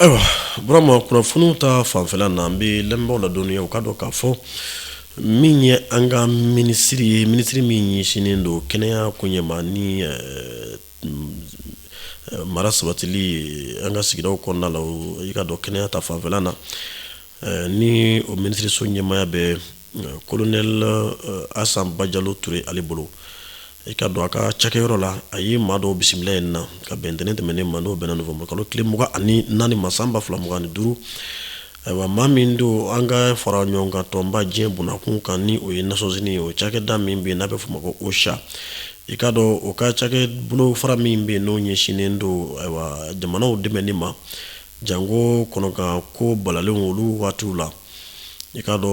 ayiwa Burama kunnafoniw ta fanfɛla na an bɛ lamɛnbaaw ladɔnniya u k'a dɔn k'a fɔ min ye an ka minisiri ye minisiri min ɲɛsinnen don kɛnɛya koɲɛ ma ni eh, eh, mara sabatili an ka sigidaw kɔnɔna la o i k'a dɔn kɛnɛya ta fanfɛla na eh, ni o minisiriso ɲɛmaaya bɛ kolonɛli asan bajalo ture ale bolo i k'a dɔn a ka cakɛyɔrɔ la a ye maa dɔw bisimila yen na ka bɛn ntɛnɛn tɛmɛnen ma n'o bɛnna nowanburu kalo tile mugan ani naani ma san ba fila mugan ni duuru ayiwa maa min don an ka fara ɲɔgɔn kan tɔnba diɲɛ bunakun kan ni o ye Nations Unies ye o cakɛda min bɛ yen n'a bɛ f'o ma ko OCHA i k'a dɔn o ka cakɛ bolofara min bɛ yen n'o ɲɛsinnen don ayiwa jamanaw dɛmɛni ma janko kɔnɔganko balalenw olu waatiw la i k'a dɔn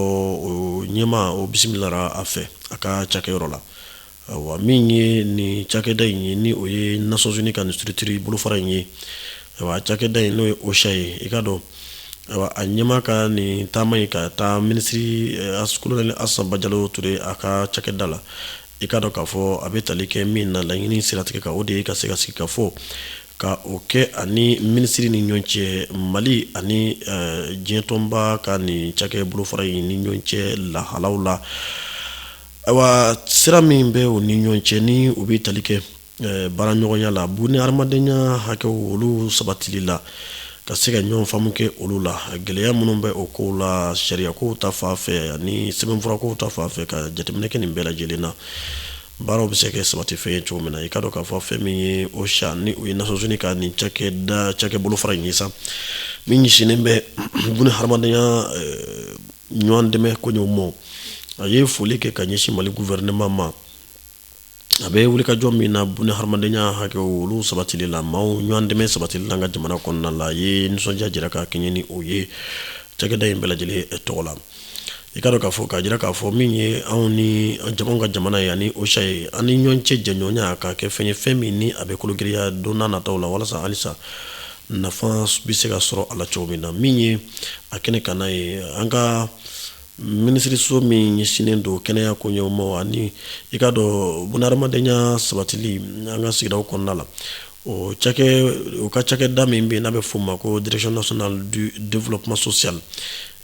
o ɲɛmaa o bisimilara a fɛ a ka cakɛyɔrɔ la ayiwa min ye nin cakɛda in ye ni o ye Nations Unies ka nin structure bolofara in ye ayiwa cakɛda in n'o ye OCHA ye i k'a dɔn ayiwa a ɲɛmaa ka nin taama ye ka taa minisiri eh, kolonɛli Asan Bajalo Ture a ka cakɛda la i k'a dɔn k'a fɔ a bɛ tali kɛ min na laɲini siratigɛ kan o de ye ka se ka sigikafɔ Ka o kɛ a ni minisiri ni ɲɔgɔn cɛ mali ani diɲɛtɔnba ka nin cakɛ bolofara in ni ɲɔgɔn cɛ lahalaw la ayiwa sira min bɛ u ni ɲɔgɔn cɛ ni u bɛ tali kɛ baaraɲɔgɔnya la bunahadamadenya hakɛw olu sabatili la ka se ka ɲɔgɔn faamu kɛ olu la gɛlɛya minnu bɛ o kow la sariyakow ta fan fɛ ani sɛbɛnfurakow ta fan fɛ ka jateminɛ kɛ nin bɛɛ lajɛlen na Baaraw bɛ se ka kɛ sabati fɛn ye cogo min na i k'a dɔn k'a fɔ fɛn min ye OCHA ni o ye Nations Unies ka nin cakɛda cakɛ bolofara in ye sa min ɲɛsinnen bɛ bunahadamadenya ɲɔgɔn dɛmɛ koɲɛw ma a ye foli kɛ ka ɲɛsin mali gouvernement ma a bɛ wulikajɔ min na bunahadamadenya hakɛw olu sabatili la maaw ɲɔgɔn dɛmɛ sabatili la an ka jamana kɔnɔna la a ye nisɔndiya jira ka kɛɲɛ ni o ye cakɛda in bɛɛ lajɛlen tɔgɔ la i k'a dɔn k'a fɔ k'a jira k'a fɔ min ye anw ni an ka jamana ye ani OCHA ye an ni ɲɔgɔn cɛ jɛɲɔgɔnya ka kɛ fɛn ye fɛn min ni a bɛ kologiriya don n'a nataw la walasa halisa nafa bɛ se ka sɔrɔ a la cogo min na min ye a kɛnɛ kan n'a ye an ka minisiriso min ɲɛsinnen don kɛnɛya koɲɛw ma ani i k'a dɔn bunahadamadenya sabatili an ka sigidaw kɔnɔna la O o ka cakɛda min bɛ yen n'a bɛ f'o ma ko Direction nationale du développement social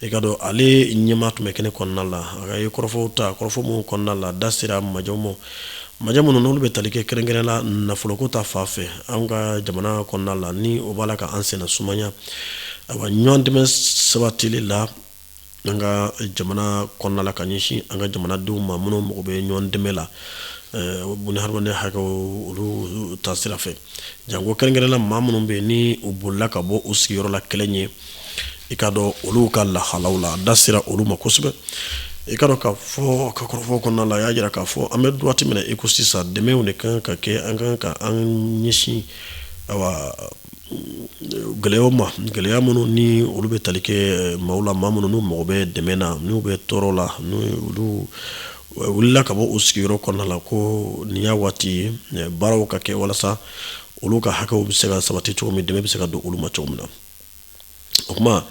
i k'a dɔn ale ɲɛmaa tun bɛ kɛnɛ kɔnɔna la a ye kɔrɔfɔw ta kɔrɔfɔ minnu kɔnɔna la da sera majamɔgɔ ma minnu n'olu bɛ tali kɛ kɛrɛnkɛrɛn la nafoloko ta fan fɛ an ka jamana kɔnɔna la ni o b'a la ka an senna sumaya ayiwa ɲɔgɔn dɛmɛ sabatili la an ka jamana kɔnɔna la ka ɲɛsin an ka jamanadenw ma minnu mago bɛ ɲɔgɔn dɛmɛ la buna hadamaden hakɛw olu ta sira fɛ jango kɛrɛnkɛrɛn la maa minnu bɛ yen ni u bolila ka bɔ u sigiyɔrɔ la kɛlɛ ɲɛ i ka dɔn olu ka lahalaw la da sera olu ma kosɛbɛ i ka dɔn k'a fɔ ka kɔrɔfɔ kɔnɔna la a y'a jira k'a fɔ an bɛ waati min na i ko sisan dɛmɛw de kan ka kɛ an kan ka an ɲɛsin gɛlɛyaw ma gɛlɛya minnu ni olu bɛ tali kɛ maaw la maa minnu n'u mago bɛ dɛmɛ na n'u bɛ tɔɔrɔ la ni olu wulila ka bɔ u sigiyɔrɔ kɔnɔna la ko nin y'a waati ye baaraw ka kɛ walasa olu ka hakɛw bɛ se ka sabati cogo min dɛmɛ bɛ se ka don olu ma cogo min na o kuma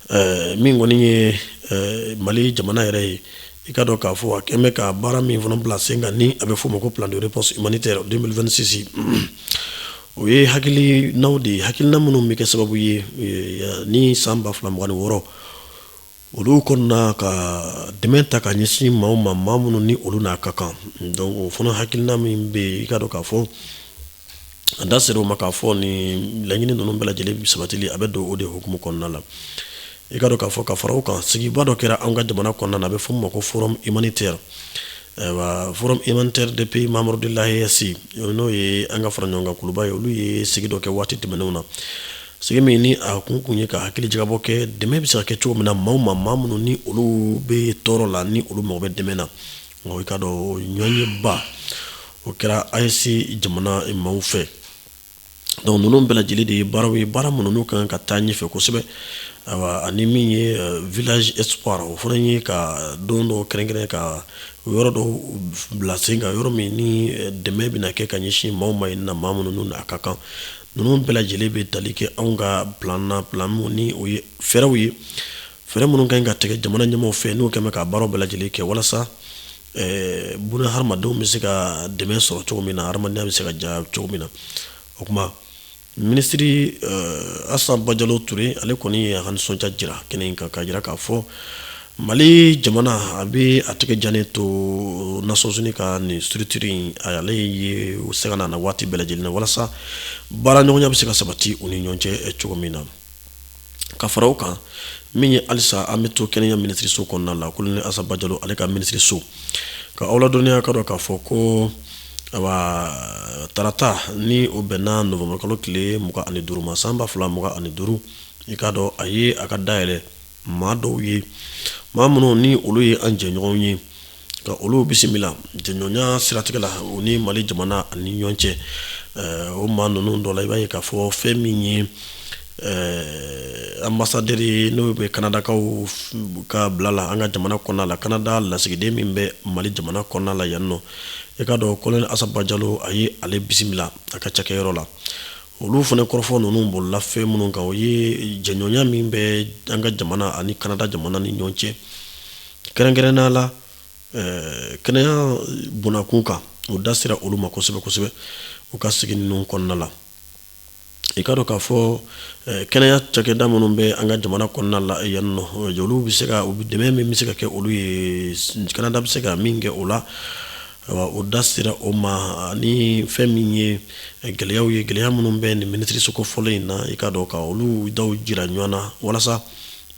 eh, min kɔni ye eh, mali jamana yɛrɛ ye i ka dɔn k'a fɔ a kɛn bɛ ka baara min fana bila sen kan ni a bɛ f'o ma ko plan de réponse humanitaire 2026 o ye hakilinaw de ye hakilina minnu bɛ kɛ sababu ye eh, ni san ba fila mugan ni wɔɔrɔ olu kɔnɔna ka dɛmɛ ta ka ɲɛsin maaw ma maa minnu ni olu n'a ka kan donc o fana hakilina min bɛ yen i ka dɔn k'a fɔ a da sera o ma k'a fɔ nin laɲini ninnu bɛɛ lajɛlen sabatili a bɛ don o de hukumu kɔnɔna la i ka dɔn k'a fɔ ka fara o kan sigiba dɔ kɛra an ka jamana kɔnɔna la a bɛ f'o ma ko forum humanitaire ayiwa forum humanitaire des pays membres de l'AES n'o ye an ka fara ɲɔgɔn kan kuluba ye olu ye sigi dɔ kɛ waati tɛmɛnenw na Sigi min ni a kun kun ye ka hakili jagabɔ kɛ dɛmɛ bɛ se ka kɛ cogo min na maaw ma maa minnu ni olu bɛ tɔɔrɔ la ni olu mago bɛ dɛmɛ na nka i ka dɔn ɲɔgɔnyeba o kɛra AES jamana maaw fɛ donc ninnu bɛɛ lajɛlen de ye baaraw ye baara minnu n'u kan ka taa ɲɛfɛ kosɛbɛ ayiwa ani min ye euh, village espoir o fana ye ka don dɔ kɛrɛnkɛrɛn ka yɔrɔ dɔ bila sen kan yɔrɔ min ni euh, dɛmɛ bɛna kɛ ka ɲɛsin maaw ma yen na maa minnu n'a ka kan Ninnu bɛɛ lajɛlen bɛ tali kɛ anw ka plan na plan min ni o ye fɛɛrɛw ye fɛɛrɛ minnu kan ka tigɛ jamana ɲɛmaaw fɛ n'u kɛlen bɛ ka baaraw bɛɛ lajɛlen kɛ walasa buna hadamadenw bɛ se ka dɛmɛ sɔrɔ cogo min na hadamadenya bɛ se ka diya cogo min na o kuma minisiri Assa Badiallo Touré ale kɔni ye a ka nisɔndiya jira kɛnɛ kan k'a jira k'a fɔ Mali jamana a bɛ a tɛgɛ jannen to Nations Unies ka nin structure in ale ye o se ka na waati bɛɛ lajɛlen na walasa baara ɲɔgɔnya bɛ se ka sabati u ni ɲɔgɔn cɛ cogo min na ka fara o kan min ye halisa an bɛ to kɛnɛya minisiriso kɔnɔna la colonel Assa Badiallo ale ka minisiriso ka aw ladɔnniya ka dɔn k'a fɔ ko tarata ni o bɛnna nowanburu kalo tile mugan ani duuru ma san ba fila mugan ani duuru i ka dɔn a ye a ka da yɛlɛ maa dɔw ye maa minnu ni olu ye an jɛɲɔgɔnw ye ka olu bisimila jɛɲɔgɔnya siratigɛ la u ni mali jamana ani ɲɔgɔn cɛ o maa ninnu dɔ la i b'a ye k'a fɔ fɛn min ye anbasadɛri n'o bɛ kanadakaw ka bila la an ka jamana kɔnɔna la kanada lasigiden min bɛ mali jamana kɔnɔna la yan nɔ i k'a dɔn kolonɛli asa bajalo a ye ale bisimila a ka cakɛyɔrɔ la olu fana kɔrɔfɔ ninnu bolila fɛn minnu kan o ye jɛɲɔgɔnya min bɛ an ka jamana ani kanada jamana ni ɲɔgɔn cɛ kɛrɛnkɛrɛnnenya la eh, kɛnɛya bonda kun kan o da sera olu ma kosɛbɛ kosɛbɛ u ka sigi ninnu kɔnɔna la i ka dɔn k'a fɔ eh, kɛnɛya cakɛda minnu bɛ an ka jamana kɔnɔna la eh, yan nɔ olu bɛ se ka dɛmɛ min bɛ se ka kɛ olu ye kanada bɛ se ka min kɛ o la O da sera o ma ni fɛn min ye gɛlɛyaw ye gɛlɛya minnu bɛ nin minisiriso kofɔlen in na i ka dɔn ka olu da jira ɲɔgɔn na walasa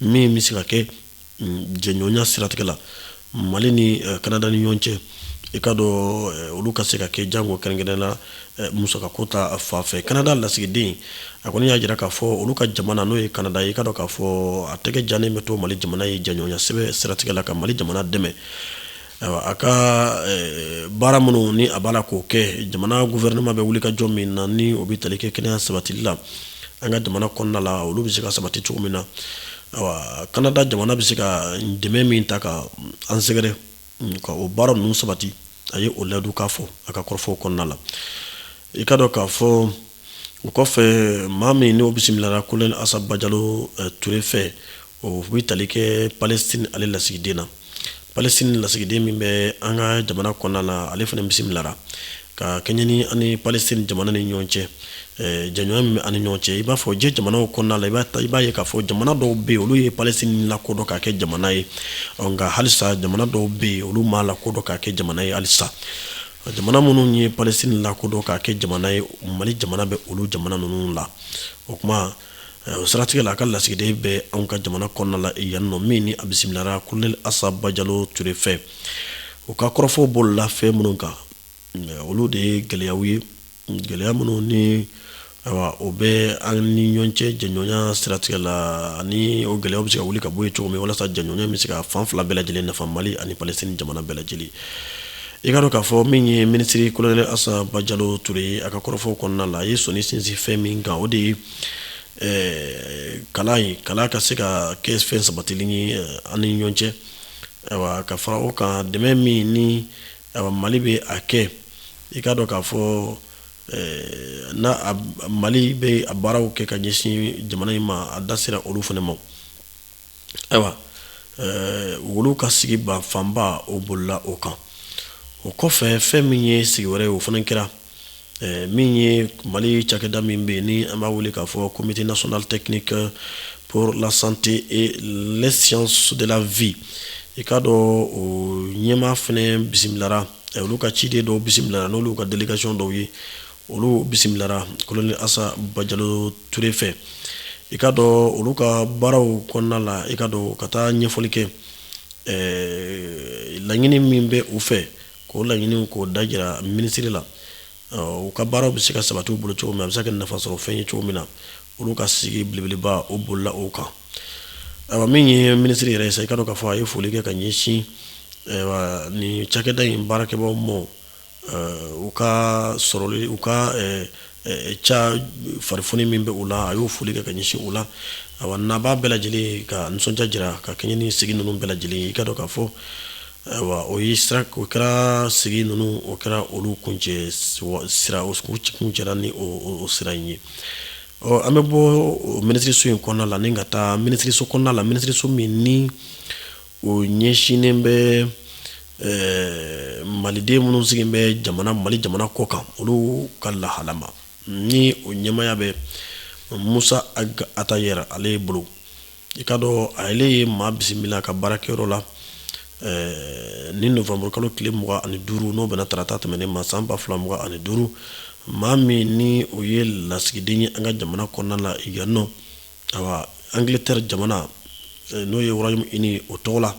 min bɛ se ka kɛ jɛɲɔgɔnya siratigɛ la mali ni kanada ni ɲɔgɔn cɛ i ka dɔn olu ka se ka kɛ jango kɛrɛnkɛrɛnnenya la musakako ta fan fɛ kanada lasigiden a kɔni y'a jira k'a fɔ olu ka jamana n'o ye kanada ye i ka dɔn k'a fɔ a tɛgɛ jannen bɛ to mali jamana ye jɛɲɔgɔnya sɛbɛ siratigɛ la ka mali jamana dɛmɛ A ka baara minnu ni a b'a la k'o kɛ jamana gofɛrɛnama bɛ wuli ka jɔ min na ni o bɛ tali kɛ kɛnɛya sabatili la an ka jamana kɔnɔna la olu bɛ se ka sabati cogo min na kanada jamana bɛ se ka dɛmɛ min ta ka an sɛgɛrɛ ka o baara ninnu sabati a ye o layidukan fɔ a ka kɔrɔfɔw kɔnɔna la i ka dɔn k'a fɔ o kɔfɛ maa min n'o bisimilara kolonɛli asa bajalo eh, ture fɛ o bɛ tali kɛ palestine ale lasigiden na palestine lasigiden min bɛ an ka jamana kɔnɔna la ale fana bisimilara ka kɛɲɛ ni an ni palestine jamana ni ɲɔgɔn cɛ eh, jɛɲɔgɔnya min bɛ an ni ɲɔgɔn cɛ i b'a fɔ diɲɛ jamanaw kɔnɔna la i b'a ye k'a fɔ jamana dɔw bɛ yen olu ye palestine lakodɔn k'a kɛ jamana ye nka halisa jamana dɔw bɛ yen olu m'a lakodɔn k'a kɛ jamana ye halisa jamana minnu ye palestine lakodɔn k'a kɛ jamana ye mali jamana bɛ olu jamana ninnu la o kuma o siratigɛ la a ka lasigiden bɛ anw ka jamana kɔnɔna la yan nɔ min ni a bisimilara kolonɛli asa bajalo ture fɛ u ka kɔrɔfɔw bolila fɛn minnu kan olu de ye gɛlɛyaw ye gɛlɛya minnu ni ayiwa o bɛ an ni ɲɔgɔn cɛ jɛɲɔgɔnya siratigɛ la ani o gɛlɛya bɛ se ka wuli ka bɔ yen cogo min walasa jɛɲɔgɔnya bɛ se ka fan fila bɛɛ lajɛlen nafa mali ani palestine jamana bɛɛ lajɛlen i ka dɔn k'a fɔ min ye minisiri kolonɛli asa bajalo ture ye a ka kɔrɔfɔw kɔnɔna la a ye sɔnni sinsin fɛn min kan o de ye eh, kalan ye kalan ka se ka kɛ fɛn sabatilen ye eh, an ni ɲɔgɔn cɛ ayiwa ka fara o kan dɛmɛ min ni Mali bɛ a kɛ i ka dɔn k'a fɔ ni mali bɛ baaraw kɛ ka ɲɛsin jamana in ma a da sera olu fana ma ayiwa olu ka sigiba fanba o bolila o kan o kɔfɛ fɛn min ye sigi wɛrɛ ye o fana kɛra min ye mali cakɛda min bɛ yen ni an b'a wele k'a fɔ comité national technique pour la santé et les sciences de la vie i k'a dɔn o ɲɛmaa fana bisimilara olu ka ciden dɔw bisimilara n'olu ka délégation dɔw ye olu bisimilara kolonɛli asa bajalo ture fɛ i ka dɔn olu ka baaraw kɔnɔna la i ka dɔn ka taa ɲɛfɔli kɛ laɲini min bɛ u fɛ k'o laɲiniw k'o da jira minisiri la u ka baaraw bɛ se ka sabati u bolo cogo min a bɛ se ka nafa sɔrɔ fɛn ye cogo min na olu ka sigi belebeleba o bolila o kan ayiwa min ye minisiri yɛrɛ ye sa i ka dɔn k'a fɔ a ye foli kɛ ka ɲɛsin nin cakɛda in baarakɛbaaw ma u ka sɔrɔli u ka ca farifoni min bɛ u la a y'o foli kɛ ka ɲɛsin u la ayiwa nabaa bɛɛ lajɛlen ka nisɔndiya jira ka kɛɲɛ ni sigi ninnu bɛɛ lajɛlen i ka dɔn k'a fɔ Ayiwa o y'i sira o kɛra sigi ninnu o kɛra olu kuncɛ sira kuncɛra ni o sira in ye ɔ an bɛ bɔ minisiririso in kɔnɔna la ni ka taa minisiririso kɔnɔna la minisiririso min ni o ɲɛsinnen bɛ maliden minnu sigilen bɛ jamana mali jamana kɔ kan olu ka lahala ma ni o ɲɛmaaya bɛ musa ag atayɛri ale bolo i ka dɔn a yɛrɛ ye maa bisimila a ka baarakɛyɔrɔ la eh, ni novanburukalo tile mugan ani duuru n'o bɛnna tarata tɛmɛnen ma san ba fila mugan ani duuru maa min ni o ye lasigiden ye an ka jamana kɔnɔna la yan nɔ awa angleterre jamana eh, n'o ye royaume uni o tɔgɔ la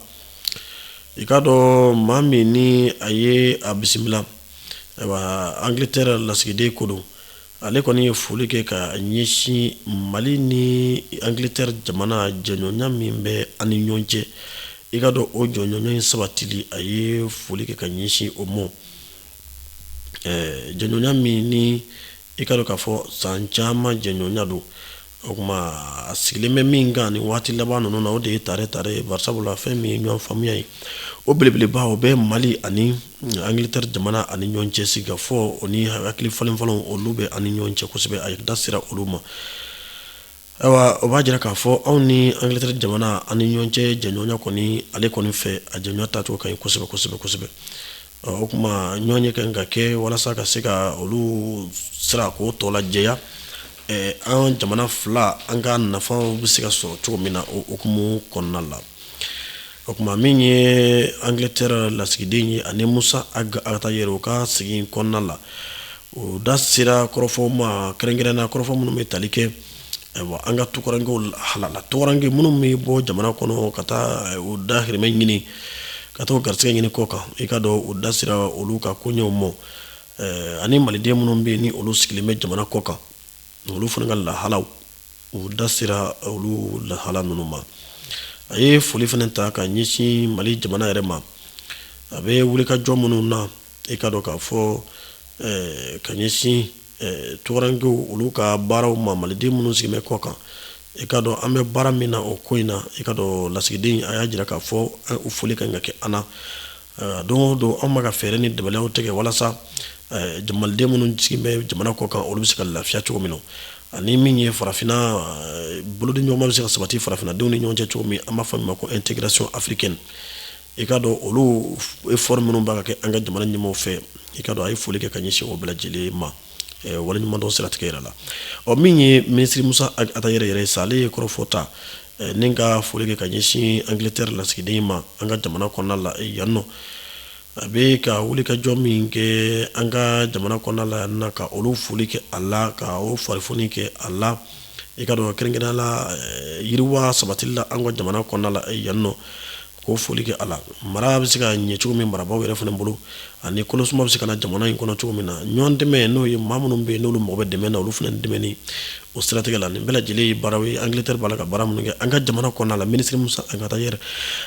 i k'a dɔn maa min ni a ye a bisimila ayiwa angleterre lasigiden ko don ale kɔni ye foli kɛ ka ɲɛsin mali ni angleterre jamana jɛɲɔgɔnya min bɛ ani ɲɔgɔn cɛ i ka dɔn o jɛɲɔgɔnya in sabatili a ye foli kɛ ka ɲɛsin o ma jɛɲɔgɔnya min ni i ka dɔn k'a fɔ san caman jɛɲɔgɔnya don O tuma a sigilen bɛ min kan ni waati laban ninnu na o de ye tare tare bari sabula fɛn min ye ɲɔgɔn faamuya ye o belebeleba o bɛ mali ani angleterre jamana ani ɲɔgɔn cɛ sigikafɔ o ni hakili falen-falen olu bɛ ani ɲɔgɔn cɛ kosɛbɛ a da sera olu ma ayiwa o b'a jira k'a fɔ anw ni angleterre jamana ani ɲɔgɔn cɛ jɛɲɔgɔnya kɔni ale kɔni fɛ a jɛɲɔgɔnya taacogo ka ɲi kosɛbɛ kosɛbɛ kosɛbɛ o tuma ɲɔnye kan ka kɛ walasa ka se ka olu sira ko tɔ lajɛya an jamana fila an ka nafaw bɛ se ka sɔrɔ cogo min na o hukumu kɔnɔna la o tuma min ye angleterre lasigiden ye ani musa ag attaher u ka sigi kɔnɔna la o da sera kɔrɔfɔw ma kɛrɛnkɛrɛn na kɔrɔfɔ minnu bɛ tali kɛ ayiwa an ka tukarankew halala tukaranke minnu bɛ bɔ jamana kɔnɔ ka taa eh, u dahirimɛ ɲini ka taa garisɛgɛ ɲini kɔkan i ka dɔn u da sera olu ka koɲɛw mɔ eh, ani maliden minnu bɛ ni olu sigilen bɛ jamana kɔkan olu fana ka lahalaw u da sera olu lahala ninnu ma a ye foli fana ta ka ɲɛsin mali jamana yɛrɛ ma a bɛ wulikajɔ minnu na i ka dɔn k'a fɔ eh, ka ɲɛsin tukarankew olu ka baaraw ma maliden minnu sigilen bɛ kɔkan i ka dɔn an bɛ baara min na o ko in na i ka dɔn lasigiden a y'a jira k'a fɔ o foli kan ka kɛ an na don o don anw bɛ ka fɛɛrɛ ni dabaliw tigɛ walasa maliden minnu sigilen bɛ jamana kɔkan olu bɛ se ka lafiya cogo min na ani min ye farafinna bolodiɲɔgɔnma bɛ se ka sabati farafinnadenw ni ɲɔgɔn cɛ cogo min an b'a fɔ min ma ko intégration africaine i ka dɔn olu effort minnu bɛ ka kɛ an ka jamana ɲɛmaaw fɛ i ka dɔn a ye foli kɛ ka ɲɛsin u bɛɛ lajɛlen ma waleɲumandɔn siratigɛ yɛrɛ la ɔ min ye minisiri musa ag attaher yɛrɛ ye sa ale ye kɔrɔfɔ ta ni ka foli kɛ ka ɲɛsin angiletɛri lasigiden ma an ka jamana kɔnɔna la yan nɔ a bɛ ka wulikajɔ min kɛ an ka jamana kɔnɔna la yan na ka olu foli kɛ a la ka o fari kɛ a la i ka dɔn kɛrɛnkɛrɛnnenya la yiriwa sabatili la an ka jamana kɔnɔna la yan nɔ k'o foli kɛ a la mara bɛ se ka ɲɛ cogo min marabagaw yɛrɛ fana bolo ani kɔnɔsuma bɛ se ka na jamana in kɔnɔ cogo min na ɲɔgɔn dɛmɛ n'o ye maa minnu bɛ yen n'olu mago bɛ dɛmɛ na olu fana dɛmɛni o siratigɛ la nin bɛɛ lajɛlen ye baara ye angleterre b'a la ka baara minnu kɛ an ka jamana kɔnɔna la minisiri musa ag attaher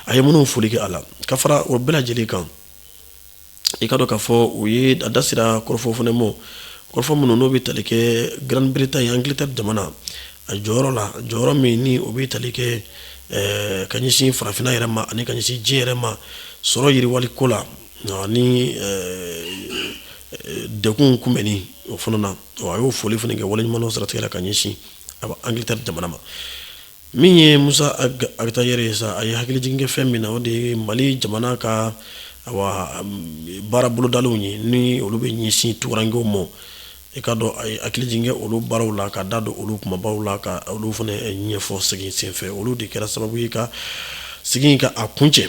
a ye minnu foli kɛ a la ka fara o bɛɛ lajɛlen kan i ka dɔn k'a fɔ u ye a da sera kɔrɔfɔ fana ma kɔrɔfɔ minnu n'o bɛ tali kɛ grande-bretagne angleterre jamana a jɔyɔrɔ la jɔyɔrɔ min ni o bɛ tali kɛ eh, ka ɲɛsin farafinna yɛrɛ ma ani ka ɲɛsin diɲɛ yɛrɛ ma sɔrɔ yiriwali ko la ani eh, eh, degun kunbɛnni o fana na a y'o foli fana kɛ waleɲumandɔn siratigɛ la ka ɲɛsin angleterre jamana ma Min ye musa ag attaher ye sa a ye hakilijigin kɛ fɛn min na o de ye mali jamana ka baara bolodaliw ye ni olu bɛ ɲɛsin tukarankew ma i ka dɔn a ye hakilijigin kɛ olu baaraw la ka da don olu kumabaw la ka olu fana ɲɛfɔ sigi senfɛ olu de kɛra sababu ye ka sigi ka a kuncɛ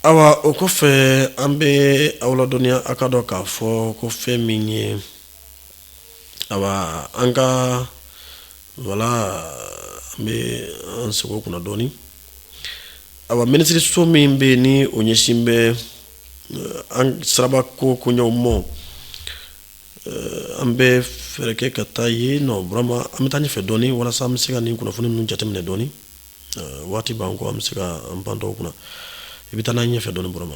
ayiwa o kɔfɛ an bɛ aw ladɔnniya aw ka dɔn k'a fɔ ko fɛn min ye an ka wala an bɛ an sekɔ kunna dɔɔnin a minisiririso min bɛ yen ni o ɲɛsin bɛ an siraba ko koɲɛw mɔ an bɛ fɛɛrɛ kɛ ka taa yen nɔ burama an bɛ taa ɲɛfɛ dɔɔnin walasa an bɛ se ka nin kunnafoni ninnu jateminɛ dɔɔnin waati b'an kɔ an bɛ se ka an pan dɔw kunna i bɛ taa n'a ɲɛfɛ dɔɔnin burama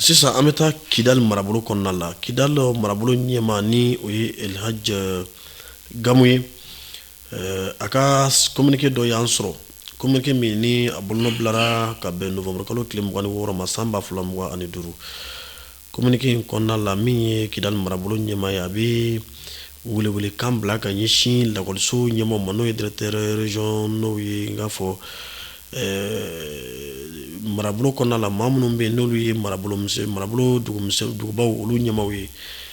Sisan an bɛ taa kidali marabolo kɔnɔna la kidali marabolo ɲɛmaa ni o ye ɛlihaji gamu ye a ka kominike dɔ y'an sɔrɔ kominike min ni a bolonɔ bilara ka bɛn novembre kalo tile mugan ni wɔɔrɔ ma san ba fila mugan ani duuru kominike in kɔnɔna la min ye kidali marabolo ɲɛmaa ye a bɛ welewelekan bila ka ɲɛsin lakɔliso ɲɛmaaw ma n'o ye directeurs régionaux ye n k'a fɔ marabolo kɔnɔna la maa minnu bɛ yen n'olu ye marabolo dugubaw olu ɲɛmaaw ye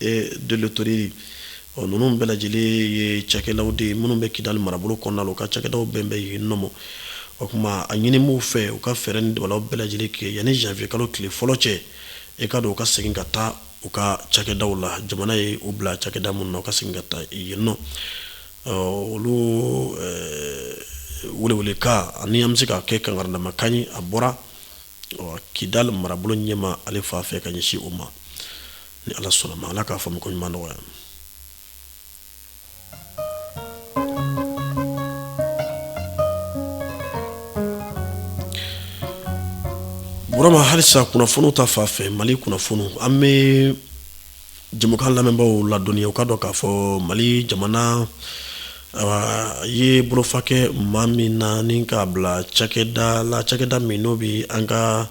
et de l'hôtellerie ninnu bɛɛ lajɛlen ye cakɛdaw de ye minnu bɛ kidali marabolo kɔnɔna la u ka cakɛdaw bɛɛ bɛ yen nɔ o tuma a ɲini b'u fɛ u ka fɛɛrɛ ni dabaliw bɛɛ lajɛlen kɛ yanni janvier kalo tile fɔlɔ cɛ i k'a dɔn u ka segin ka taa u ka cakɛdaw la jamana ye u bila cakɛda minnu na u ka segin ka taa yen nɔ olu welewelekan ani an bɛ se ka kɛ kankarindamakan ye a bɔra kidali marabolo ɲɛmaa ale fan fɛ ka ɲɛsin o ma ni ala sɔnna ma ala k'a faamu koɲuman nɔgɔya burama halisa kunnafoni ta fan fɛ mali kunnafoni an bɛ jɛmukan lamɛnbaaw ladɔnniya u ka dɔn k'a fɔ mali jamana a ye bolofa kɛ maa min na ni k'a bila cakɛda la cakɛda min n'o bɛ an ka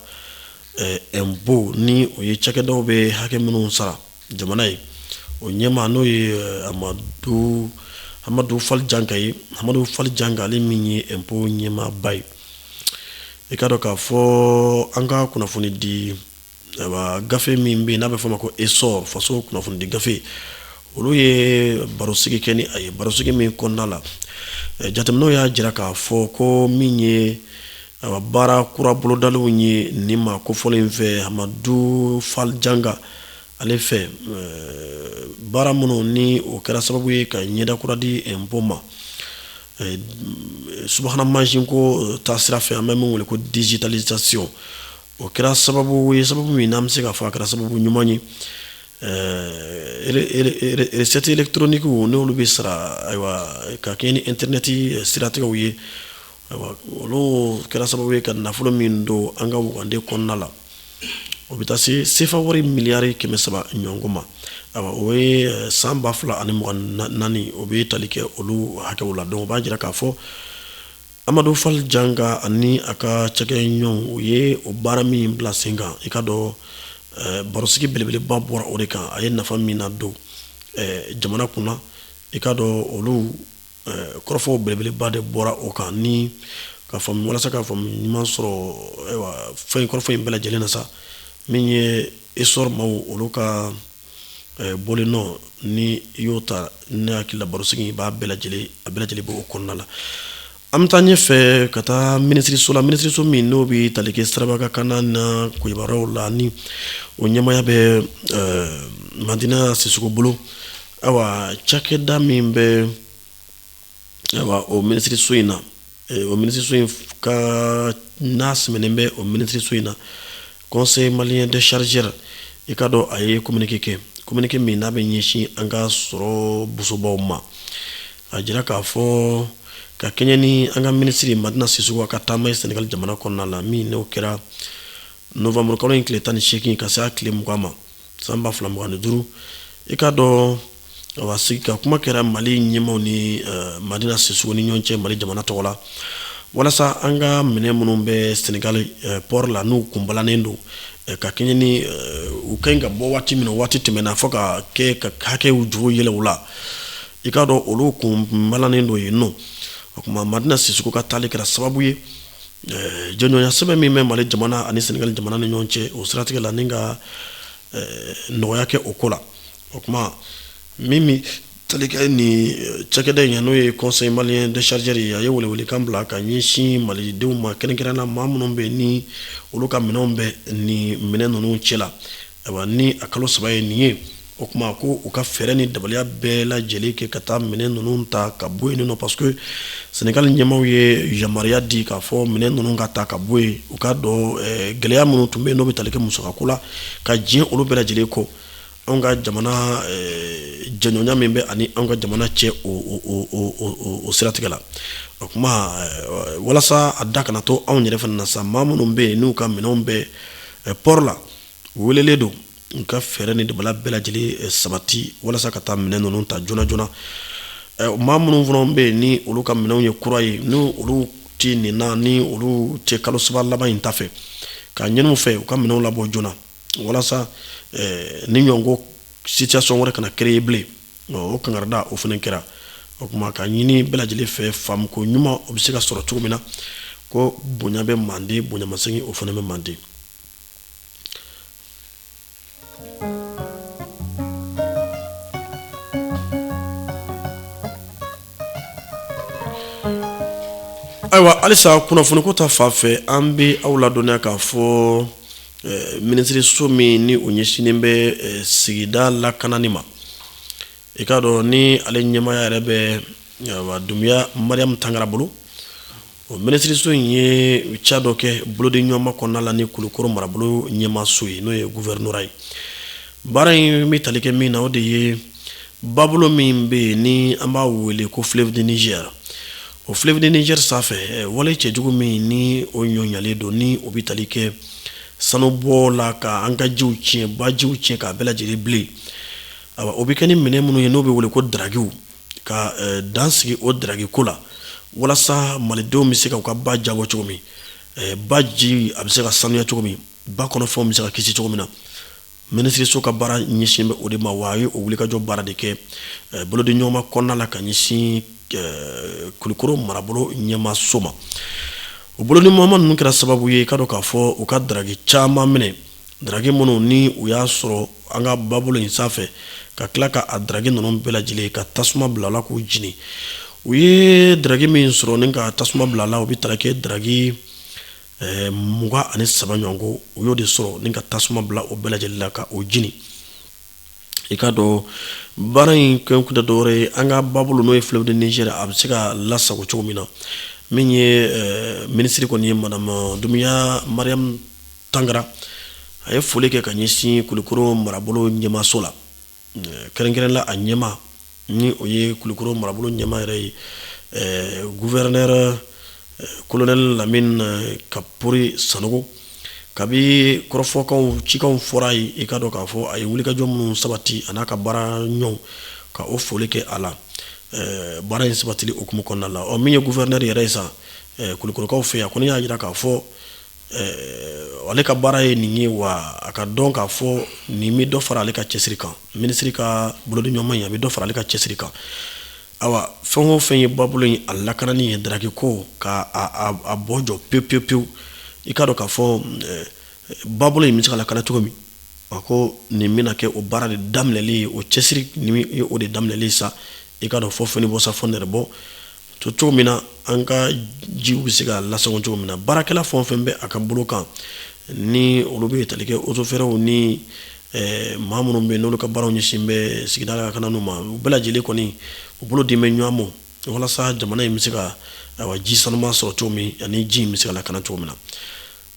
impôt eh, ni o ye cakɛdaw bɛ hakɛ minnu sara jamana ye o ɲɛmaa n'o ye eh, amadu amadu fali janka ye amadu fali janka ale min ye impôt ɲɛmaaba ye i k'a dɔn k'a fɔ an ka kunnafoni di gafe min bɛ yen n'a bɛ fɔ a ma ko Essor faso kunnafoni di gafe olu ye barosigi kɛ ni a ye barosigi min kɔnɔna la jateminɛw y'a jira k'a fɔ ko min ye baara kura bolodaliw ye nin maa kofɔlen in fɛ amadu fali janka ale fɛ baara minnu ni o kɛra sababu ye ka ɲɛda kura di impôt ma subahana mansin ko taasira fɛ an bɛ min wele ko digitalisation o kɛra sababu ye sababu min n'an bɛ se k'a fɔ a kɛra sababu ɲuman ye recettes électroniques n'olu bɛ sara ayiwa ka kɛ ni internet siratigɛw ye ayiwa olu kɛra sababu ye ka nafolo min don an ka wugande kɔnɔna la o bɛ taa se sefa wari miliyari kɛmɛ saba ɲɔgɔn ma ayiwa o ye san ba fila ani mugan ni naani o bɛ tali kɛ olu hakɛw la donc o b'a jira k'a fɔ amadu fali janka ani a ka cakɛɲɔgɔnw ye o baara min bila sen kan i k'a dɔn eh, barosigi belebeleba bɔra o de kan a ye nafa min na don eh, jamana kunna i k'a dɔn olu eh, kɔrɔfɔw belebeleba de bɔra o kan ni ka faamu walasa ka faamu ɲuman sɔrɔ ayiwa fɛn kɔrɔfɔ in bɛɛ lajɛlen na sa min ye Essor maw olu ka eh, bɔlen nɔ ni i y'o ta ne hakili la barosigi i b'a bɛɛ lajɛlen a bɛɛ lajɛlen b'o kɔnɔna la an bɛ taa ɲɛfɛ ka taa minisiriso la minisiriso min n'o bɛ tali kɛ siraba ka kan na koyibaraw la ni o ɲɛmaaya bɛ eh, madina sisoko bolo ayiwa cakɛda min bɛ ayiwa o minisiriso in na o minisiriso in ka n'a sɛmɛnen bɛ o minisiriso in na conseil malien des chargeurs i k'a dɔn a ye communiqué kɛ communiqué min n'a bɛ ɲɛsin an ka sɔrɔ bɔsobaw ma a jira k'a fɔ ka kɛɲɛ ni an ka minisiri in madina sisoko a ka taama ye senegali jamana kɔnɔna la min n'o kɛra nowanburukalo in tile tan ni seegin ka se a tile mugan ma san ba fila mugan ni duuru i k'a dɔn a sigi ka kuma kɛra mali ɲɛmaw ni eh, madina sisoko ni ɲɔgɔn cɛ mali jamana tɔgɔ la walasa an ka minɛn minnu bɛ senegali eh, pɔri la n'u kunbalanen don eh, ka kɛɲɛ ni u ka ɲi ka bɔ waati min na waati tɛmɛna fɔ ka kɛ ka hakɛ jugu yɛlɛn u la i k'a dɔn olu kunbalanen don yen nɔ o tuma madina sisoko ka taali kɛra sababu ye jɛɲɔgɔnya sɛbɛn min bɛ mali jamana ani senegali jamana ni ɲɔgɔn cɛ o siratigɛ la ni ka nɔgɔya kɛ o ko la o tuma min bɛ tali kɛ ni cakɛda in n'o ye conseil malien des chargeurs ye a ye welewelekan bila ka ɲɛsin malidenw ma kɛrɛnkɛrɛn na maa minnu bɛ ni olu ka minɛnw bɛ nin minɛn ninnu cɛ la Ayiwa ni a kalo saba ye nin ye o tuma ko u ka fɛɛrɛ ni dabaliya bɛɛ lajɛlen kɛ ka taa minɛn ninnu ta ka bɔ yen nɔ parce que senegali ɲɛmaw ye yamaruya di k'a fɔ minɛn ninnu ka ta ka bɔ yen u k'a dɔn eh, gɛlɛya minnu tun bɛ yen n'o bɛ tali kɛ musakako la ka diɲɛ olu bɛɛ lajɛlen kɔ anw ka jamana eh, jɛɲɔgɔnya min bɛ ani anw ka jamana cɛ o, o, o, o, o, o siratigɛ la o tuma eh, walasa a da kana to anw yɛrɛ fana na sa maa minnu bɛ yen n'u ka minɛnw bɛ eh, pɔri la welelen don u ka fɛɛrɛ ni dabali bɛɛ lajɛlen eh, sabati walasa ka taa minɛn ninnu ta joona joona eh, maa minnu fana bɛ yen ni olu ka minɛnw ye kura ye ni olu tɛ nin na ni olu tɛ kalo saba laban in ta fɛ ka ɲin'u fɛ u ka minɛnw labɔ joona walasa eh, ni ɲɔgɔnko situation wɛrɛ kana créer bilen o kankarida o fana kɛra o tuma ka ɲini bɛɛ lajɛlen fɛ faamuko ɲuman o bɛ se ka sɔrɔ cogo min na ko bonya bɛ manden bonyamasegin o fana bɛ manden Ayiwa halisa kunnafoni ko ta fan fɛ an bɛ aw ladɔnniya k'a fɔ minisiriso min ni o ɲɛsinnen bɛ sigida lakanani ma i k'a dɔn ni ale ɲɛmaaya yɛrɛ bɛ dumuya mariam tangara bolo O minisiririso in ye ca dɔ kɛ bolodi ɲɔgɔnma kɔnɔna la ni kulukɔrɔ marabolo ɲɛmaaso ye n'o ye gouvernorat ye baara in bɛ tali kɛ min na o de ye babolo min bɛ yen ni an b'a wele ko fleuve du niger o fleuve du niger sanfɛ wale cɛjugu min ni o ɲɔlen don ni o bɛ tali kɛ sanubɔ la ka an ka jiw tiɲɛ bajiw tiɲɛ k'a bɛɛ lajɛlen bilen o bɛ kɛ ni minɛn minnu ye n'o bɛ wele ko darakiw ka eh, dan sigi o daraki ko la walasa malidenw bɛ se ka u ka ba jabɔ cogo min eh, ba ji a bɛ se ka sanuya cogo min ba kɔnɔfɛnw bɛ se ka kisi cogo min na minisiriso ka baara ɲɛsin bɛ o de ma wa a ye o wulikajɔ baara de kɛ eh, bolodi ɲɔgɔnma kɔnɔna la ka ɲɛsin kulukoro marabolo ɲɛmaaso ma o bolodi ɲɔgɔnma ninnu kɛra sababu ye i k'a dɔn k'a fɔ u ka daraki caman minɛ Daraki minnu ni u y'a sɔrɔ an ka babolo in sanfɛ ka tila k'a daraki ninnu bɛɛ lajɛlen ka tasuma bil'a la k'u jeni u ye daraki min sɔrɔ ni ka tasuma bil'a la o bɛ taa kɛ daraki eh, mugan ani saba ɲɔgɔn ko u y'o de sɔrɔ ni ka tasuma bila o bɛɛ lajɛlen la ka o jeni i k'a dɔn baara in kɛkun tɛ dɔwɛrɛ ye an ka babolo n'o ye fleuve du niger a bɛ se ka lasago cogo min na min ye eh, minisiri kɔni ye madame eh, dumuya mariam tangara a ye foli kɛ ka ɲɛsin kulikoro marabolo ɲɛmaaso la eh, kɛrɛnkɛrɛn la a ɲɛmaa ni o ye kulukoro marabolo ɲɛmaa yɛrɛ ye gouverneur colonel lamini kapɔri sanogo kabi kɔrɔfɔkan cikan fɔra ye i k'a dɔn k'a fɔ a ye wulikajɔ minnu sabati a n'a ka baaraɲɔgɔn ka o foli kɛ a la baara in sabatili hukumu kɔnɔna la min ye gouverneur yɛrɛ ye sa kulukorokaw fɛ yan kɔni y'a jira k'a fɔ Ɛɛ ale ka baara ye nin ye wa a ka dɔn k'a fɔ nin bɛ dɔ fara ale ka cɛsiri kan minisiri ka bolodiɲɔgɔnma in a bɛ dɔ fara ale ka cɛsiri kan ayiwa fɛn o fɛn ye ba bolo in a lakanani ye dragi ko k'a bɔ jɔ pewu pewu pewu i k'a dɔn k'a fɔ ba bolo in bɛ se ka lakana cogo min a ko nin bɛna kɛ o baara de daminɛli ye o cɛsiri o de daminɛlen sa i k'a dɔn fɔ fɛn bɔ sa fɔ nɛrɛ bɔ to cogo min na an ka jiw bɛ se ka lasago cogo min na baarakɛla fɛn o fɛn bɛ a ka bolo kan ni olu bɛ tali kɛ Eaux et Forêts ni eh, maa minnu bɛ yen n'olu ka baaraw ɲɛsin bɛ sigida lakanani ma u bɛɛ lajɛlen kɔni u bolo dilen bɛ ɲɔgɔn ma walasa jamana in bɛ se ka ayiwa ji sanuman sɔrɔ cogo min ani ji in bɛ se ka lakana cogo min na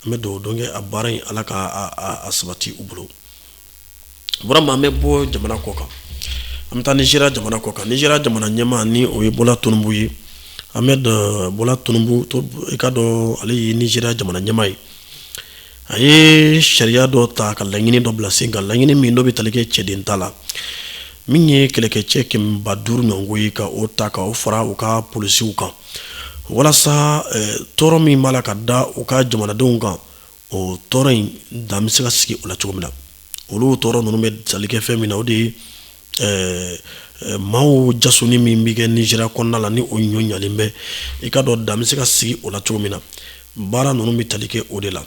an bɛ dugawu don kɛ a baara in ala ka a sabati u bolo burama an bɛ bɔ jamana kɔ kan an bɛ taa nizeriya jamana kɔ kan nizeriya jamana ɲɛmaa ni o ye Bola Tinubu ye Ahmed Bola Tinubu i ka dɔn ale ye nizeriya jamana ɲɛmaa ye a ye sariya dɔ ta ka laɲini dɔ bila sen kan laɲini min dɔ bɛ tali kɛ cɛden ta la min ye kɛlɛkɛcɛ kɛmɛba duuru ɲɔgɔn ye ka o ta ka o fara u ka polisiw kan walasa tɔɔrɔ min b'a la ka da u ka jamanadenw kan o tɔɔrɔ in dan bɛ se ka sigi o la cogo min na olu tɔɔrɔ ninnu bɛ tali kɛ fɛn min na o de ye eh, eh, maaw jasoni min bɛ kɛ nizeriya kɔnɔna la ni o ɲɔ ɲalen bɛ i ka dɔn dan bɛ se ka sigi o la cogo min na baara ninnu bɛ tali kɛ o de la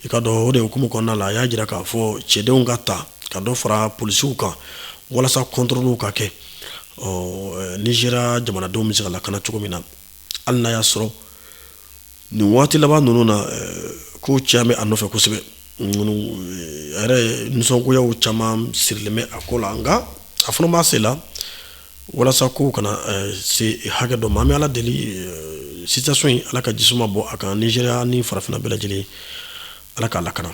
i ka dɔn o de hukumu kɔnɔna la a y'a jira k'a fɔ cɛdenw ka ta ka dɔ fara polisiw kan walasa kɔntɔrɔliw ka kɛ ɔ eh, nizeriya jamanadenw bɛ se ka lakana cogo min na hali n'a y'a sɔrɔ nin waati laban ninnu na ko caman bɛ a nɔfɛ kosɛbɛ a yɛrɛ nisɔngoyaw caman sirilen bɛ a ko la nka a fana b'a se la walasa ko kana se hakɛ dɔ ma an bɛ ala deli situation in ala ka ji suma bɔ a kan nizeriya ni farafinna bɛɛ lajɛlen ala k'a lakana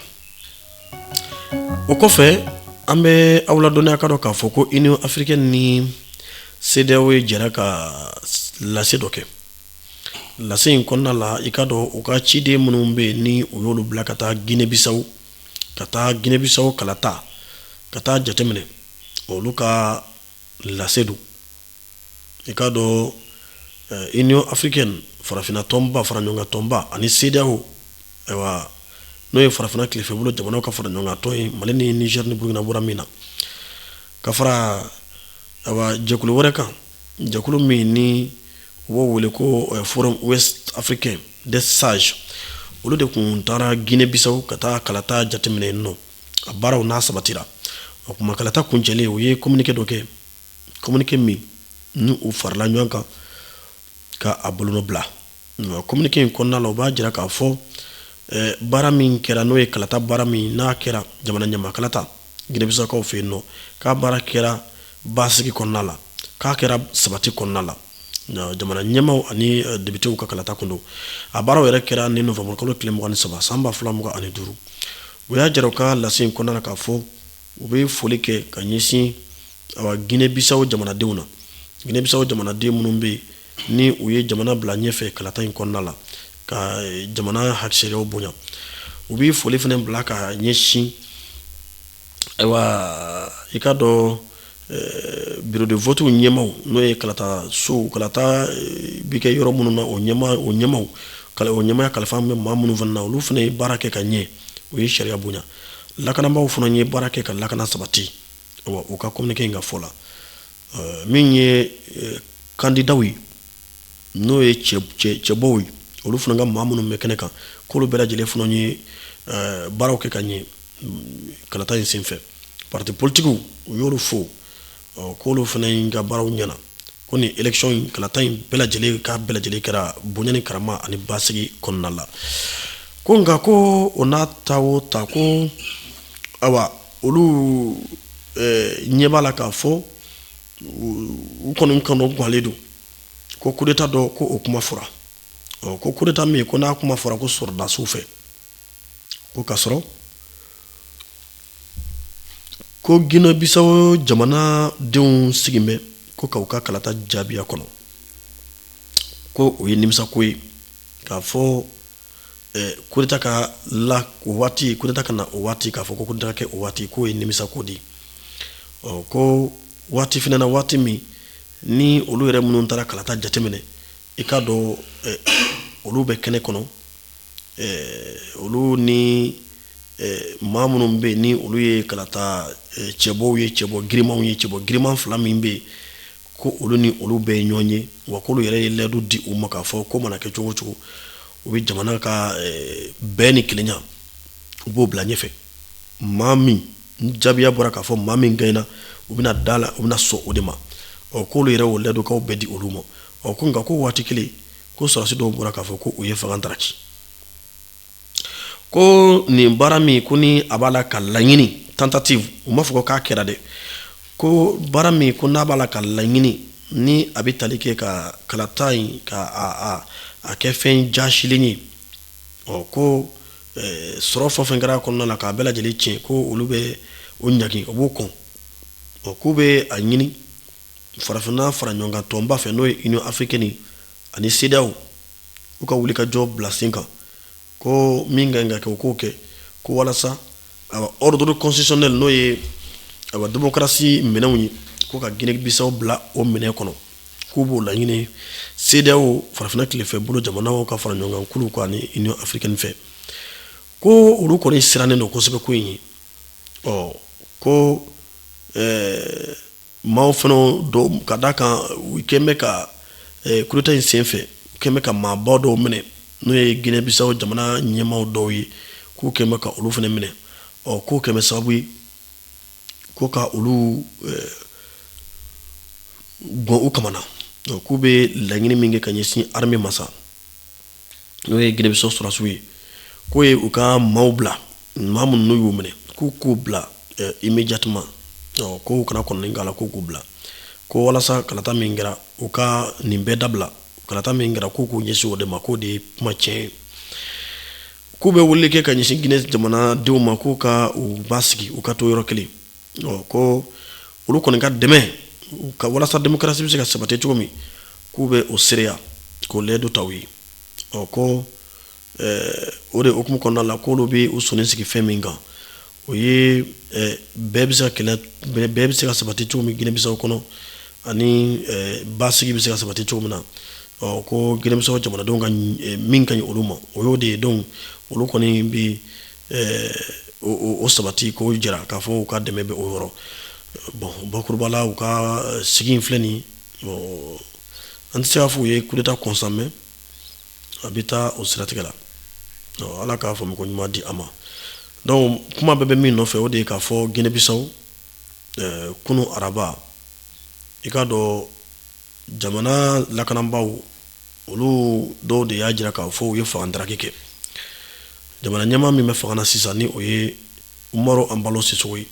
o kɔfɛ an bɛ aw ladɔnniya ka dɔn k'a fɔ ko Union africaine ni CEDEAO ye jɛra ka lase dɔ kɛ lase in kɔnɔna la i ka dɔn u ka ciden minnu bɛ yen ni u y'olu bila ka taa gine bisawo ka taa gine bisawo kalata ka taa jateminɛ olu ka lase don i ka dɔn Union africaine farafinna tɔnba fara ɲɔgɔn kan tɔnba ani CEDEAO ayiwa n'o ye farafinna tilefɛ bolo jamanaw ka fara ɲɔgɔn kan tɔn ye mali ni nizɛri ni burukina bɔra min na ka fara jɛkulu wɛrɛ kan jɛkulu min ni u b'o wele ko eh, forum ouest africain des sages olu de kun taara guinée bissau ka taa kalata jateminɛ yen nɔ a baaraw n'a sabatira o kuma kalata kuncɛlen u ye communiqué dɔ kɛ communiqué min ni u farala ɲɔgɔn kan ka a bolonɔ bila communiqué in kɔnɔna la u b'a jira k'a fɔ eh, baara min kɛra n'o ye kalata baara min n'a kɛra jamana ɲɛma kalata ginɛ bisawkaw fɛ yen nɔ k'a baara kɛra basigi kɔnɔna la k'a kɛra sabati kɔnɔna la jamana ɲɛmaw ani depitew ka kalata kun don a baaraw yɛrɛ kɛra ni novembre kalo tile mugan ni saba san ba fila mugan ani duuru u y'a jira u ka lase in kɔnɔna la k'a fɔ u bɛ foli kɛ ka ɲɛsin awa ginɛ bisaw jamanadenw na ginɛ bisaw jamanaden minnu bɛ yen ni u ye jamana bila ɲɛfɛ kalata in kɔnɔna la ka eh, jamana ka sariyaw bonya u bɛ foli fana bila ka ɲɛsin ayiwa i k'a dɔn eh, biro de votiw ɲɛmaw n'o ye kalata sow kalata eh, bɛ kɛ yɔrɔ minnu na o ɲɛma o ɲɛmaw o ɲɛmaya kalifa bɛ maa minnu fana na olu fana ye baara kɛ ka ɲɛ u ye sariya bonya lakanabaaw fana ye baara kɛ ka lakana sabati u ka communiqué in ka fɔ la min ye kandidaw ye n'o ye cɛbɔw ye olu fana ka maa minnu bɛ kɛnɛ kan k'olu bɛɛ lajɛlen fana ye baaraw kɛ ka ɲɛ kalata in senfɛ parti politikiw u y'olu fo k'olu fana ka baaraw ɲɛna ko ni ec kalata in bɛɛ lajɛlen ka bɛɛ lajɛlen kɛra bonya ni karama ani basigi kɔnɔna la ko nka ko o n'a ta o ta ko ayiwa olu ɲɛ b'a la k'a fɔ u kɔni kɔnɔganlen don ko kudeta dɔ ko o kuma fɔra ɔ ko kudeta min ko n'a kuma fɔra ko sɔrɔdasiw fɛ ko k'a sɔrɔ ko ginɛ bisaw jamanadenw sigilen bɛ ko k'u ka kalata jaabiya kɔnɔ ko o ye nimisako ye k'a fɔ kudeta ka la o waati kudeta ka na o waati k'a fɔ ko kudeta ka kɛ o waati k'o ye nimisako di ɔ ko waati fana na waati min ni olu yɛrɛ minnu taara kalata jateminɛ i k'a dɔn olu bɛ kɛnɛ kɔnɔ olu ni maa minnu bɛ yen ni olu ye kalata cɛbɔw ye cɛbɔ girinmanw ye cɛbɔ girinman fila min bɛ yen ko olu ni olu bɛɛ ye ɲɔgɔn ye wa k'olu yɛrɛ ye layidu di u ma k'a fɔ k'o mana kɛ cogo o cogo u bɛ jamana ka eh, bɛn ni kelenya u b'o bila ɲɛfɛ maa min ni jaabiya bɔra k'a fɔ maa min gaɲɛna u bɛna da la u bɛna sɔn o de ma ɔ k'olu yɛrɛ o layidukanw bɛɛ di olu ma ɔ ko nka ko waati kelen ko sɔrɔdasi dɔw bɔra k'a fɔ ko u ye fanga daraki ko nin baara min ko ni a b'a la ka laɲini tentative u m'a fɔ k'a kɛra dɛ ko baara min ko n'a b'a la ka laɲini ni a bɛ tali kɛ ka kalata in ka a kɛ fɛn jasilen ye ɔ ko sɔrɔ fɛn o fɛn kɛra kɔnɔna na k'a bɛɛ lajɛlen tiɲɛ ko olu bɛ o ɲagin o b'o kɔn ɔ k'u bɛ a ɲini farafinna fara ɲɔgɔn kan tɔnba fɛ n'o ye Union africaine ani CEDEAO u ka wuli ka jɔ bila sen kan ko min ka ka kɛ u k'o kɛ ko walasa a ordre constitutionnel n'o ye a démocratie minɛnw ye ko ka Guinée Bissau bila o minɛn kɔnɔ k'u b'o laɲini CEDEAO farafinna tilefɛ bolo jamanaw ka fara ɲɔgɔn kan kulu ko ani Union africaine fɛ ko olu kɔni sirannen don kosɛbɛ ko in ye ɔ ko ɛɛ Maaw fana don ka d'a kan u kɛlen bɛ ka kudeta in senfɛ u kɛlen bɛ ka maaba dɔw minɛ n'o ye Guinée Bissau jamana ɲɛmaaw dɔw ye k'u kɛlen bɛ ka olu fana minɛ ɔ k'o kɛlen bɛ sababu ye ko ka olu gan u kamana k'u bɛ laɲini min kɛ ka ɲɛsin armée ma sa n'o ye Guinée Bissau sɔrɔsiw ye k'o ye u ka maaw bila maa minnu n'u y'u minɛ k'u k'u bila eh, immédiatement ɔ k'u kana kɔnɔni k'a la k'u k'u bila ko walasa kalata min kɛra u ka nin bɛɛ dabila kalata min kɛra k'u k'u ɲɛsin o de ma k'o de ye kuma tiɲɛ ye k'u bɛ weleli kɛ ka ɲɛsin Guinée jamanadenw ma k'u ka u basigi u ka to yɔrɔ kelen ko olu kɔni ka dɛmɛ ka walasa démocratie bɛ se ka sabati cogo min k'u bɛ o seereya k'o layidu ta u ye ɔ ko o de hukumu kɔnɔna la k'olu bɛ u sɔnni sigi fɛn min kan o ye bɛn bɛ se ka sabati cogo min Guinée Bissau kɔnɔ ani basigi bɛ se ka sabati cogo min na ɔ ko Guinée Bissau jamanadenw min ka ɲi olu ma o ye o de ye donc olu kɔni bɛ o sabati k'o jira k'a fɔ u ka dɛmɛ bɛ o yɔrɔ bon bakuruba la u ka sigi in filɛ nin an tɛ se k'a fɔ u ye kudeta kɔn sa mais a bɛ taa o siratigɛ la ala ka faamuko ɲuman di a ma donc kuma bɛɛ bɛ min nɔfɛ o de ye k'a fɔ Guinée Bissau kunun araba i k'a dɔn jamana lakanabaaw olu dɔw de y'a jira k'a fɔ u ye fangadaraki kɛ jamana ɲɛmaa min bɛ fanga na sisan ni o ye Umaru Embalo Sissoco ye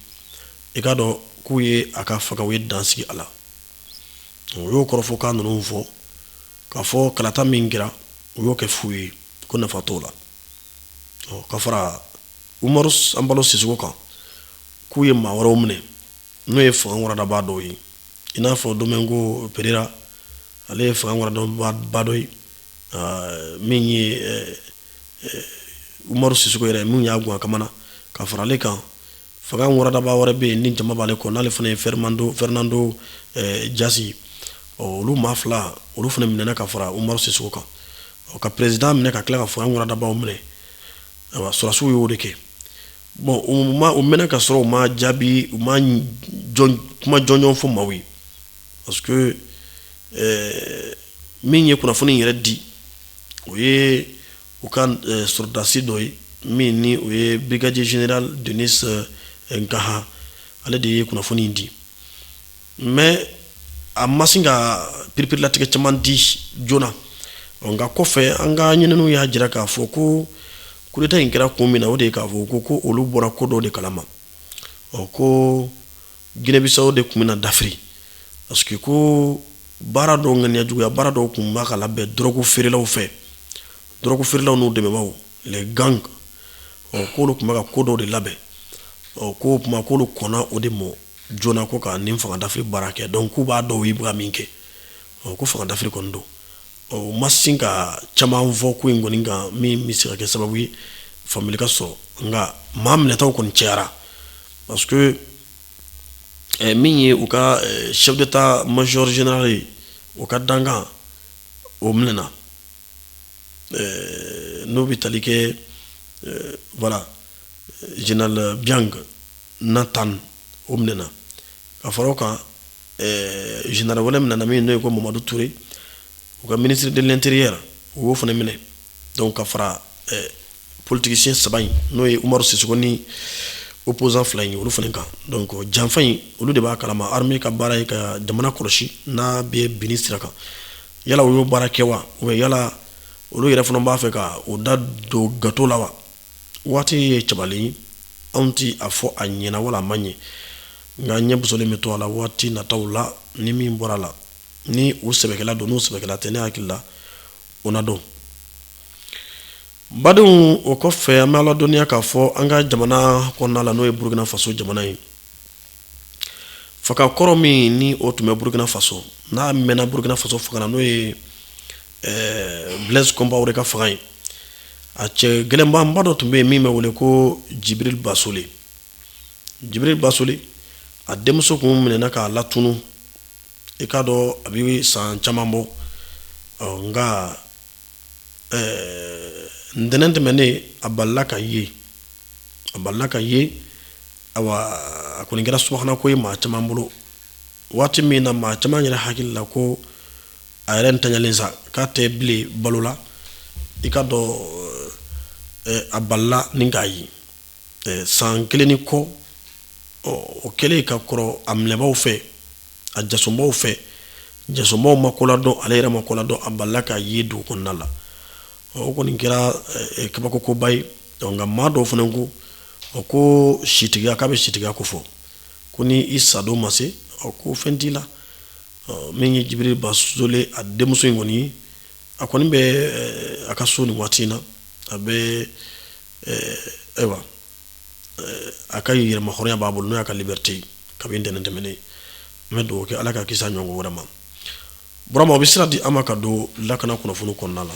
i k'a dɔn k'u ye a ka fanga u ye dansigi a la o y'o kɔrɔfɔkan ninnu fɔ k'a fɔ kalata min kɛra u y'o kɛ fu ye ko nafa t'o la ka fara Umaru Embalo Sissoco kan k'u ye maa wɛrɛw minɛ n'o ye fanga waradabaa dɔw ye i n'a fɔ domingo pereira ale ye fanga waradabaa dɔ ye min ye umaru sisoko yɛrɛ min y'a gan kamana ka fara ale kan fanga waradabaa wɛrɛ bɛ yen ni jama b'ale kɔ n'ale fana ye fernando dias ɔ olu maa fila olu fana minɛna ka fara umaru sisoko kan ka président minɛ ka tila ka fanga waradabaaw minɛ a sɔrɔsiw y'o de kɛ bon o mɛnna ka sɔrɔ u ma jaabi u ma kuma jɔnjɔn fɔ maaw ye parce que min ye kunnafoni yɛrɛ di o ye u ka sɔrɔdasi dɔ ye min ni o ye brigadier général denis nkaha ale de ye kunnafoni in di mais a ma sin ka piripirilatigɛ caman di joona nka kɔfɛ an ka ɲininiw y'a jira k'a fɔ ko kudeta in kɛra kun min na o de ye k'a fɔ ko ko olu bɔra ko dɔ de kalama ɔ ko ginɛbisawo de tun bɛna dafiri parce que ko baara dɔw ŋaniyajuguya baara dɔw tun bɛ ka labɛn dɔrɔgu feerelaw fɛ dɔrɔgu feerelaw n'u dɛmɛbaaw les gangs ɔ k'olu tun bɛ ka ko dɔ de labɛn ɔ k'o tuma k'olu kɔnna o de mɔ joona ko ka nin fangadafiri baara kɛ donc k'u b'a dɔn u ye ka min kɛ ɔ ko fangadafiri kɔni don ɔ u ma sin ka caman fɔ ko in kɔni kan min bɛ se ka kɛ sababu ye faamuyali ka sɔrɔ nka maa minɛtaw kɔni cayara parce que eh, min ye u ka eh, chef d'état major général ye o ka dankan o minɛna eh, n'o bɛ tali kɛ eh, voilà eh, général Biang na tan o minɛna ka fara o kan général wɛrɛ minɛna min n'o ye ko Mamadu Ture u ka ministre de l'intérieur u y'o fana minɛ donc ka fara politigisiyɛn saba in n'o ye umaru sisoko ni opposant fila in olu fana kan donc janfa in olu de b'a kalama armée ka baara ye ka jamana kɔlɔsi n'a bɛ binni sira kan yala u y'o baara kɛ wa ou bien yala olu yɛrɛ fana b'a fɛ ka u da don gato la wa waati ye cabalen ye anw ti a fɔ a ɲɛna wala a ma ɲɛ nka ɲɛ bosolen bɛ to a la waati nataw la ni min bɔra a la ni u sɛbɛkɛla don n'u sɛbɛkɛla tɛ ne hakili la o na dɔn badenw o kɔfɛ an bɛ a ladɔnniya k'a fɔ an ka jamana kɔnɔna la n'o ye burukina faso jamana ye fanga kɔrɔ min ni o tun bɛ burukina faso n'a mɛnna burukina faso fanga na n'o ye eh, blaise compaoré ka fanga ye a cɛ gɛlɛnbanba dɔ tun bɛ yen min bɛ wele ko jibril basole jibril basole a denmuso kun minɛna k'a latunun i k'a dɔn a bɛ san caman bɔ nka ntɛnɛn tɛmɛnen a balala ka ye a balala ka ye awa a kɔni kɛra subahana ko ye maa caman bolo waati min na maa caman yɛrɛ hakili la ko a yɛrɛ ntalen sa k'a tɛ bilen balo la i k'a dɔn a balila ni k'a ye san kelen ni kɔ ɔ o kɛlen ka kɔrɔ a minɛbaaw fɛ a jasobaw fɛ jasobaw ma koladɔn ale yɛrɛ ma koladɔn a balala ka ye dugu kɔnɔna la ɔ o kɔni kɛra eh, eh, kabakokoba ye ɔ nka maa dɔw fana ko ɔ ko sitigiya k'a bɛ sitigiya ko fɔ ko ni i sadon ma se ɔ ko fɛn t'i la ɔ min ye Jibiri Basole a denmuso in kɔni ye a kɔni bɛ eh, a ka so nin waati in na a bɛ eh, ayiwa a ka yɛrɛmahɔrɔnya b'a bolo n'o y'a ka liberté ye kabini ntɛnɛn tɛmɛnen n bɛ dugawu kɛ Ala k'a kisi a ɲɔgɔn wɛrɛ ma Burama o bɛ sira di an ma ka don lakana kunnafoni kɔnɔna la